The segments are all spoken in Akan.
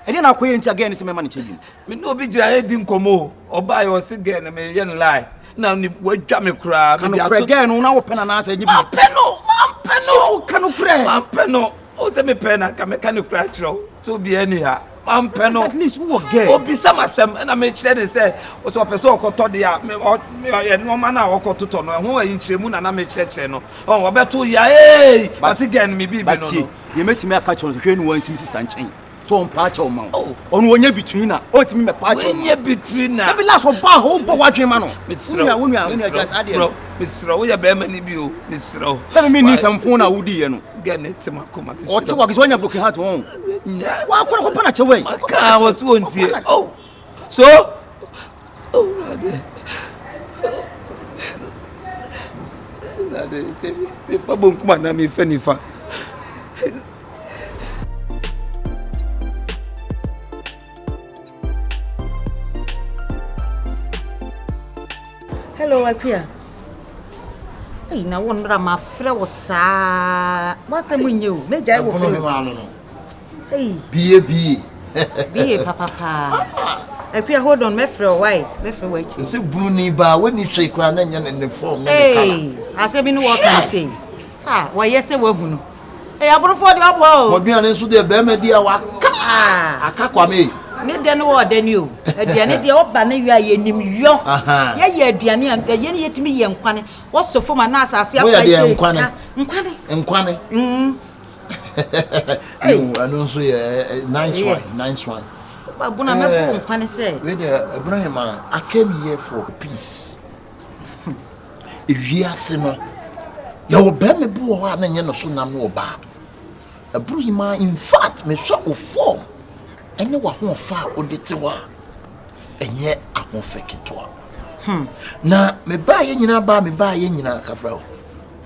Ɛdeɛn na akɔyɛ nti a gɛɛ no sɛ mɛma no kyɛ bio? Me ne obi gyina yɛdi nkɔmmɔ o, ɔbaeɛ ɔse gɛɛ no meyɛ no lie na wadwa me koraa. Ka nokorɛ gɛɛ no na wopɛ no anaasɛ ɛnyɛ bi? Mampɛ no, mampɛ no. Sifo ka nokorɛ. Mampɛ no, o sɛ mepɛ na nka mɛka nokorɛ akyerɛ wo sɛ obiara ni ha. Mampɛ no. At least wowɔ gɛɛ. Obisa m'asɛm ɛna mekyerɛ ne sɛ ɔsɛ ɔpɛ sɛ ɔkɔtɔ deɛ a me ɔ me ɔyɛ nneɛma no a ɔkɔtotɔ no ɛho ayi nkyerɛmu na na mekyerɛkyerɛ no ɔn ɔbɛto yaee ɔse gɛɛ no me biribi no no. Deɛ mɛtumi aka kyerɛ no hwɛ ne wɔnsi me sista nkyɛn sɛ ɔmpa akyɛw mma wo oh. ɔno wɔnyɛ between na ɔntumi mɛpa akyɛw mma wɔnyɛ between na ɛbi last ɔba hɔ wobɔ w'adwene ma no wonua wonua wonua gya saa deɛ no mesrɛ woyɛ bɛrima no bi o mesrɛ wo sɛ meme ni nsɛmfo na wodiiɛ no gɛne te makoma mesrɛ ɔte wɔ akisɛ ɔnya broken heart wɔn nyɛ wakɔrɔ kɔpa na kyɛwɛ ɔka wɔ so ɔntie oh So Awurade Awurade sɛ mefa bonkum anaa mefa nifa. Hello Akuya. Ei na wo nnora mafrɛ wo saa. W'asɛm nyɛ o. Mɛgyae wɔ fie. Ei. Bie bie. bie papa paa. Ah, Akua hold on mɛfrɛ o why mɛfrɛ wɔ akyi. Ɛsɛ bunu ni baa wɔnni hwee koraa na nyɛ ne ne fɔm ne ne kala. Ei, asɛm bi ne wɔka ne sei. Ah, wɔyɛ sɛ wɔahu no. Ei, aborofoɔ de ɔboa o. Wɔduane nso deɛ bɛrima di a waka. Ah. Aka kwame ei. Ne dɛ no wɔ dɛ ni o. Aduane deɛ ɔba ne yɔ a yɛnim yɔ. Yɛyɛ aduane a ɛyɛ ne yɛtumi yɛ nkwane. Wɔsɔ fam anaa asase apa yɛ. Woyɛ deɛ nkwane. Nkwane. Nkwane. Mm. ɛno nso yɛ nice one nice one babona mɛbɔ wo nkwa ne sɛ wei deɛ ɛberɛ yɛ ma I came here for peace ewiase no yɛwɔ bɛrima bi wɔ hɔ a na nyɛ no so nam no ɔbaa ɛboro yi ma in fact mehwɛ wo fɔm ɛne w'ahoɔfa a wode te hɔ a ɛnyɛ ahoɔfɛ ketewa hmm. na mebaayɛ nyinaa baa mebaayɛ nyinaa kafra o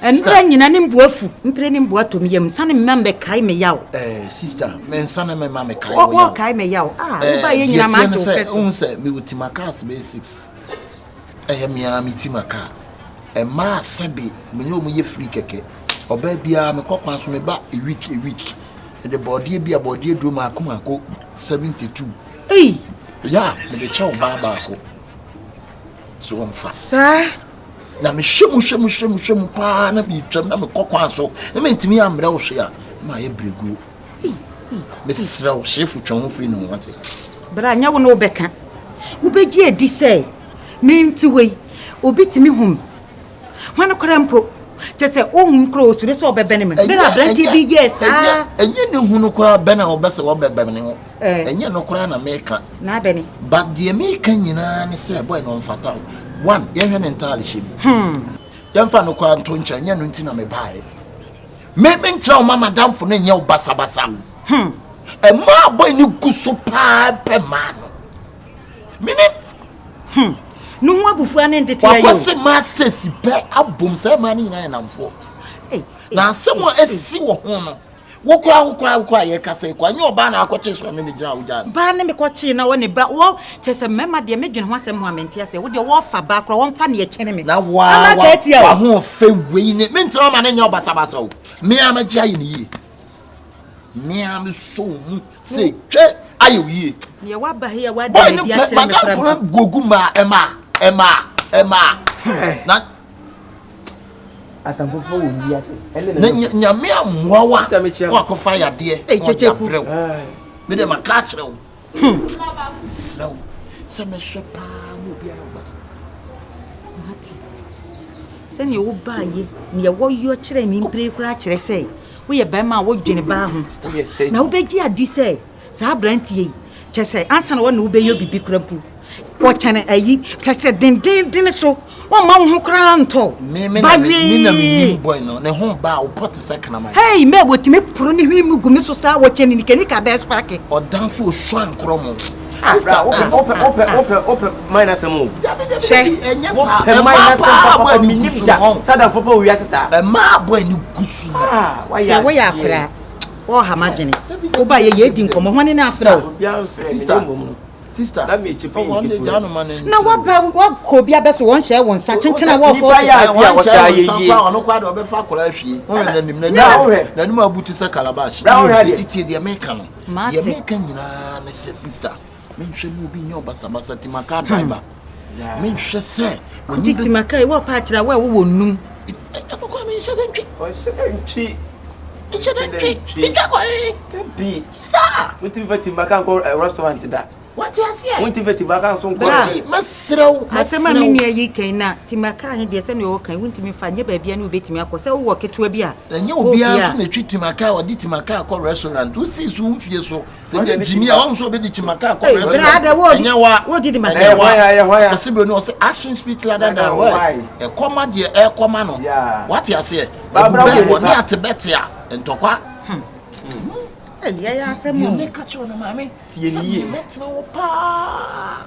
Sister. Mmerɛ nyina ne mbu afu. Mpire ne mbu atom yam. Nsane mma mɛkae me yaw. Eh, sister, me nsane me ma me kae wo yaw. Wɔkae me yaw. Ah, eh, woba yɛ nyina ma to fɛ. Ohun sɛ me wuti ma kaa sɛ bɛyɛ six. Ɛyɛ me ara me ti ma kaa. Ɛmaa sɛbe me ne wɔn yɛ free kɛkɛ. Ɔbaa biara me kɔ kwan so me ba a week a week. Ɛde bɔɔdeɛ bi a bɔɔdeɛ duro maako maako seventy two. Ei. Ya, me de kyɛ ɔbaa baako. So wɔmfa. Saa. Na mehwɛ mu hwɛ mu hwɛ mu hwɛ mu paa na metwam na mekɔ kwan so na mentumi ammrɛ wo hwe a na mayɛ berɛguo. Mesrɛ wo hyefo twɛn ho firi ne ho wate. Bra nyɛ wo na wobɛka. Wobɛgye adi sɛ me nti wei obi tumi home. Hwan koraa mpo? Kyɛ sɛ ohun koraa osuro sɛ ɔbɛbɛn me. Bere a aberante bi yɛɛ saa. Ɛnyɛ ne hunu koraa bɛn a ɔbɛ sɛ ɔbɛbɛn ne ho. Ɛnyɛ no koraa na meka. Na abɛ ne. But deɛ meka nyinaa ne sɛ boy no ɔmfata wo. One, yɛnhwɛ ne ntaadehyɛ mu. Hmm. Yɛmfa no koraa nto nkyɛn, ɛnyɛ no nti na mebaeɛ. Me menkyerɛ wo ma madamfo no nyɛ wo basabasa. Hmm. Ɛmaa boy no gu so paa pɛ maa no. mene hmm ne ho abufuo ane nteteɛ yɛ o wakɔ se ma sesi pɛ abom sɛ ma ne nyinaa yɛ namfoɔ na asɛm a ɛsi wɔ ho no wokora wokora wokora yɛ kasa ekɔ anyɛ ɔbaa na akɔkye sɔrɔ ne ne gyina awogya no baa ne me kɔkye na wɔne ba wɔ kyɛ sɛ mmarima deɛ me dwene ho asɛm ho a mente aseɛ wo deɛ wɔfa baa kora wɔmfa ne ɛkyɛne me na wa wa wa ho fɛ wei ne me ntena ma ne nyɛ ɔbasabasa o me a magye ayɛ ne yie mmea no sɔ wɔn mu sɛ twɛ ayɛ wo yie deɛ waba he a wada ne di akyerɛ me koraa mpa gogu maa ɛmaa ɛmaa ɛmaa na atamfofoɔ wɔ wiase na nyame amoa wa wakɔfa yadeɛ ɔde abrɛ wo mede maka akyerɛ wo Hmm. Mesrɛ wo sɛ mɛhwɛ paa ma obi ayɛ ɔbasa. Mate. Sɛnea wobaayɛ nea wɔyɔ kyerɛ me mpire koraa kyerɛ sɛ woyɛ bɛrima a wodwene baa ho. Na wobɛgye adi sɛ saa aberanteɛ yi kyɛ sɛ ansa na wɔne wobɛyɛ biribi kora mpo Wɔkyɛn ayi kyɛsɛ dendeenden so. Wɔmma wo ho koraa ntɔ. Me me na me na me nim boy no. Ne ho ba wo pɔte sɛ kraman. Hey, me wɔtumi poro ne hwene mu gu me so saa wɔkyɛn ne nika nika bɛɛ spake. Ɔdanfo osua nkorɔ mo. Sister, ope ope ope ope ope my na sɛm o. Hwɛ, ɛnyɛ saa. Ɛmaa paa abɔ ani gu so no. Sadanfo pɛ owiase saa. Ɛmaa abɔ ani gu so no. Hwɛ, woyɛ akwadaa. Wɔɔha m'adwene. Wobaeɛ yɛ edi nkɔmmɔ. Hwane na afrɛ wo? Sister. Sister, na mekyi pii nketewa bi. Na waba wakɔ obi abɛso wɔn hyɛ wɔn nsa kyenkyen a wɔfɔ so. Nipa yɛ adeɛ a wɔsɛ ayɛ yie. Wɔn ɔno kɔ adeɛ ɔbɛfa akɔla ahwie. Wɔn yɛ n'anim n'anim n'anim abu ti sɛ calabash. Eti tie deɛ meka no. Deɛ meka nyinaa ne sɛ sister menhwɛ mu obi nyɛ ɔbasabasa ti maka driver. menhwɛ sɛ w'ani bɛ. maka yi wɔpa akyerɛ a wo a wowɔ nnum. ɛkɔkɔ a menhyɛ dɛ ntwi. ɔhyɛ dɛ ntwi. nhyɛ dɛ ntwi. ntwa kɔ he. dabi. saa. wontumi fa timaka nkɔ eh, restaurant da. wate aseɛ. wontumi fa timaka nso nkɔ. bɛti mɛserɛ wo. asɛm a me nua yi kan na timaka he deɛ sɛdeɛ ɔwɔ kan wontumi fa nyɛ baabia ne wobɛtumi akɔ sɛ wowɔ ketewa bi a. ɛnyɛ obiara nso na ɛtwi timaka a ɔde timaka akɔ restaurant wosii so wo mfie so Sɛdeɛ ne gyimi a wɔn nso bɛdi kyima kaa kɔ rest ɛnyɛ wa ɛnyɛ wa ɔsi bro ni ɔsi action speak louder than words ɛkɔma deɛ ɛkɔma no wate aseɛ ɛbu bɛɛ wɔ ne ate bɛ te a ntɔkwa. ɛyɛ asɛm o deɛ ne ka kyerɛ no maame sɛ mi mɛtena hɔ paa.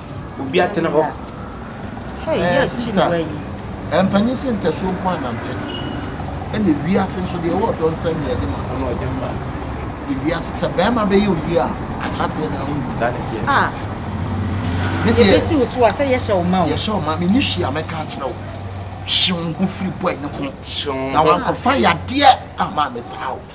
Obi atene hɔ. Ɛɛ sista, ɛmpanyin sɛ ntasuo nko anante. Ɛna ewiase nso deɛ ɛwɔ ɔdɔ nsa nni anim a. Ɛna ɔgya mma. Ewiase sɛ bɛrima bɛyɛ wo yie a, ahyɛaseɛ na wonim. Saa na ɛteɛ. Ah. Me deɛ. Yɛbɛsi wo so a sɛ yɛhyɛ wo ma o. Yɛhyɛ wo ma, me ni hwee a mɛka akyerɛ wo. Hye wo ho firi boy no ho. Hye wo ho. Na wankɔfa yadeɛ amma me saa o.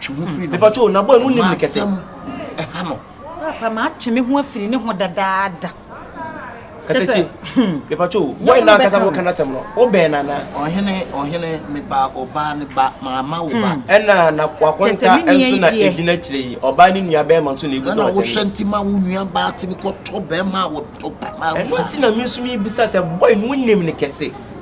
twe ho firi ne ho. Mepatwo na boy mu nim ne kɛse. Ɛha no. Papa ma atwe me ho afiri ne ho dadaada. Kɛsɛkye. Mepatwo boy na kasa bo kana sɛm no. Wo bɛn na na. Ɔhene ɔhene me ba ɔbaa ne ba ma ma wo ba. Ɛna na wakonta nso na egyina akyire yi. Ɔbaa ne nua bɛrima nso na ebu sɛ wasɛm. Ɛna wo hwɛ nti ma wo nua baa timi kɔ tɔ bɛrima a wɔtɔ ba ma. Ɛno nti na me nso me bisa sɛ boy no nim ne kɛse.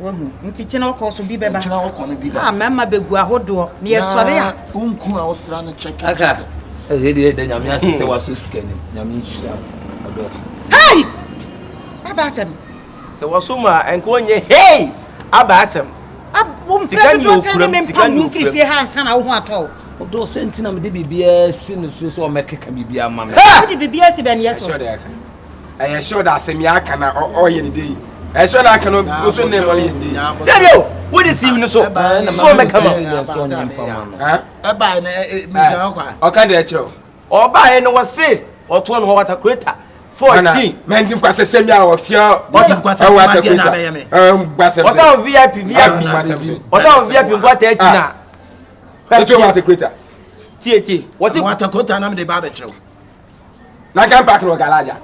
Wahu. Nti kyena ɔkɔ so bi bɛba. Kyena ɔkɔ no bi bɛba. A mɛma bɛgu ahodoɔ. Na yɛsɔre a. Na ɔnku a ɔsra no kyɛkɛ. Aka. Ɛsɛ deɛ ɛdɛ nyame ase sɛ wasɔ sika nim. Nyame nhyira. Ɔdɔ. Hei! Aba asɛm. Sɛ wasɔ mu a ɛnka ɔnyɛ hei! Aba asɛm. Sika ni okuram. Sika ni okuram. Fie ha ansa na wo ho atɔ wo. Ɔdɔ sɛ nti na mede biribiara si no so sɛ ɔmɛkeka biribiara ma me. Wode biribiara si bɛneɛ so. ɛyɛ sure da asɛm yɛ aka na ɔyɛ ne dei ɛyɛ sure na aka no nso ne ma yɛ ne dei dɛbi o wo de siiw no so so ɔbɛka ma ɔka deɛ kyerɛ o ɔbaeɛ no wɔse ɔtoɔ no hɔ watakureta fourteen mɛnti nkwasɛsɛm bi a ɔfia ɔsɛ watakureta nkwasɛm ɔsɛ wɔ vip vip ɔsɛ wɔ vip nkwa tɛɛti na ɛtoɔ watakureta tietie wɔse watakureta nam de ba abɛkyerɛw na kan park no galaja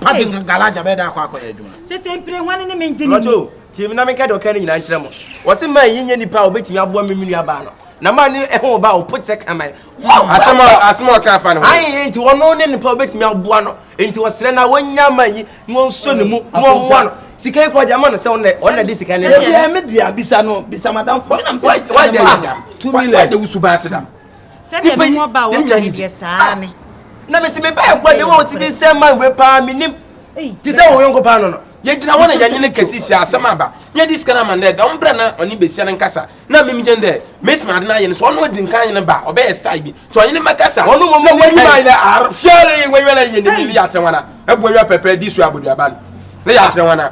parking ka galaja bɛ da akɔ akɔ yɛ adwuma sese mpire hwan ne me ngye ne lɔto tie mi na menka deɛ ɔka no nyinaa nkyerɛ mo wɔse ma yi nyɛ nipa a wɔbɛtumi aboa me me nua baa no na ma ne ɛho ba ɔpo kyɛ kaman asɛm a asɛm a ɔka fa no ho ayi nti ɔno ne nipa wɔbɛtumi aboa no nti ɔsrɛ na wɔnya ma yi na wɔnso ne mu na wɔmmoa no sika yi kɔgya ma no sɛ ɔnɛ ɔnɛ de sika ne yɛ me dua bisa no bisa madam fo na mpɛ sika ne ma two million why the wusu baate dam Sɛdeɛ Nipa me yi, ho ɔba a yɛn nyinaa wɔka yi yɛ deɛ saa Ah, ne. na mese me bɛɛ kwa Ɛyɛ ne wɔ si nokorɛ. bi nsɛm man we paa menim Ei, te sɛ wo yɔnko paa no no yɛgyina hɔ na yɛnye ne kɛse hyia asɛm aba nyɛ de sika no ama no dɛ dɔm brɛ na ɔne besia no nkasa na mim gyɛn dɛ mesi ma ade no ayɛ no so ɔno adi nkan nye no ba a ɔbɛyɛ style bi nti ɔnye ne mɛkasa ɔno mmom na ne wanyima ayɛ dɛ ar fiare wanyima na yɛ ne ne yɛ akyerɛ wana abu awia pɛpɛ di so aboduaba no na yɛ akyerɛ wana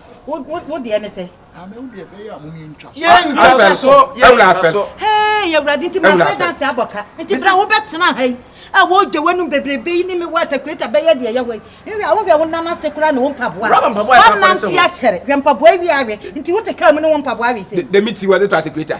wo deɛ ne sɛ yɛntwa so yɛntwa so hei awurade nti mafrɛ danse abɔ ka nti sɛ wobɛtena ha yi a wɔgye w'anom bebrebe yi ne me wɔ atakureta bɛyɛ deɛ yɛwɔ yi nhwɛ a wohwɛ wo nan ase koraa ne wo mpaboa wonante akyɛre hwɛ mpaboa awie awe nti wote kaa mu ne wo mpaboa awe sɛ dɛmi ti wɔde tɔ atakureta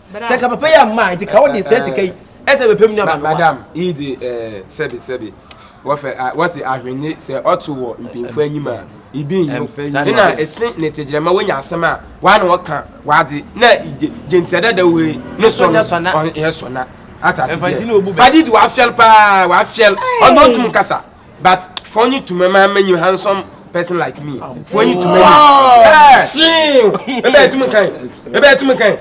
sɛ ka papa yi amma a nti ka wode saa sika yi ɛsɛ bɛpɛ mu naba madam yi de sɛbi sɛbi wɔfɛ wɔsi ahwenne sɛ ɔto wɔ mpanyinfoɔ anim a ibi nyo ɛna ɛsi ne tegyerɛma wɔnya asɛm a wɔa na wɔka wɔade na gyentsia dada wei ne sɔ no ɔyɛ sɔ na atase deɛ badi de wɔafiɛl paa wɔafiɛl ɔno ɔntum kasa But funny to me man many handsome person like me. Funny to me. Ah, see. Ebe to me kan. Ebe to me kan.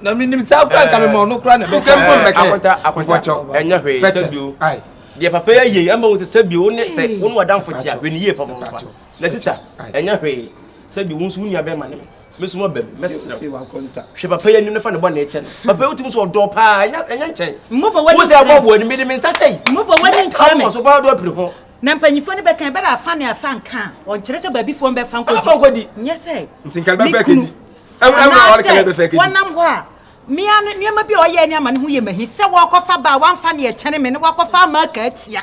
Na mi nim sa kwa ka me ma no kra na be. Kan pon be kan. Akwata akwata. Enya hwe se bio. Ai. Dia papa ya ye, amba wo se bio ne se wo no adamfo tia, hwe ne ye papa papa. Na sister, enya hwe se bio wo nso wo nua be ma ne. Me nso maba mu. Mɛsrɛ wo. Hwɛ papa yi anim na fa ne bɔne kyɛ no. Papa yi wotumi sɛ ɔdɔ paa ɛnyɛ ɛnyɛ nkyɛn. Mmɔbɔ w'ani kyerɛ. Wosɛ ɛbɔ boɔ ni mede me nsa sɛyi. Mmɔbɔ w'ani nkyerɛ me. Ɔmɔ so paa do apiri ho. Na mpanyinfoɔ no bɛka ɛbɛrɛ afa ne afa nka a ɔnkyerɛ sɛ baabi foɔ mbɛfa nkɔdi. Afa nkɔdi. Nyɛ sɛ. Nti nka bɛfɛ kedi. Anaasɛ wɔnam hɔ a mmea no nneɛma bi a ɔyɛ ne ama ne ho yɛ mahi sɛ wɔkɔfa baa wɔamfa ne ɛkyɛne me ne wɔakɔfa ama aka atia.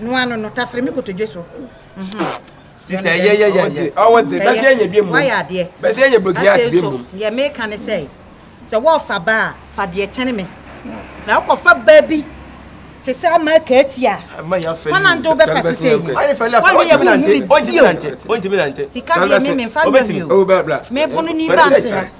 no ano no tafere me kotodwe so. Sista yɛ yɛ yɛ yɛ ɔwɔ dze bɛsɛ yɛ bi mu wayɛ adeɛ bɛsɛ yɛ blogi ati bi mu. Deɛ meka ne sɛ sɛ wɔfa ba a fa deɛ kyɛne me na wokɔfa ba bi te sɛ ama kaati a fana nto wobɛfa so sɛ yi wɔne yɛ wohu me bio sika deɛ me memfa nwɛ bio mebono ni ba nte ha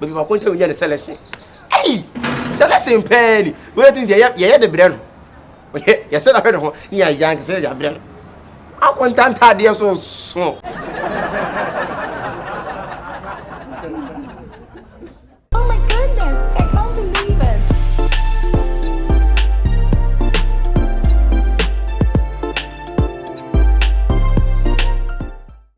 baabi baako ntam nyɛ ne selection ɛyi selection pɛɛ ni wɔyɛ tumi sɛ yɛyɛ yɛyɛ de brɛ no wɔyɛ yɛsɛ dahwɛ ne ho ne yɛ ayɛ ankasa yɛ de abrɛ no akɔ ntantaadeɛ so so.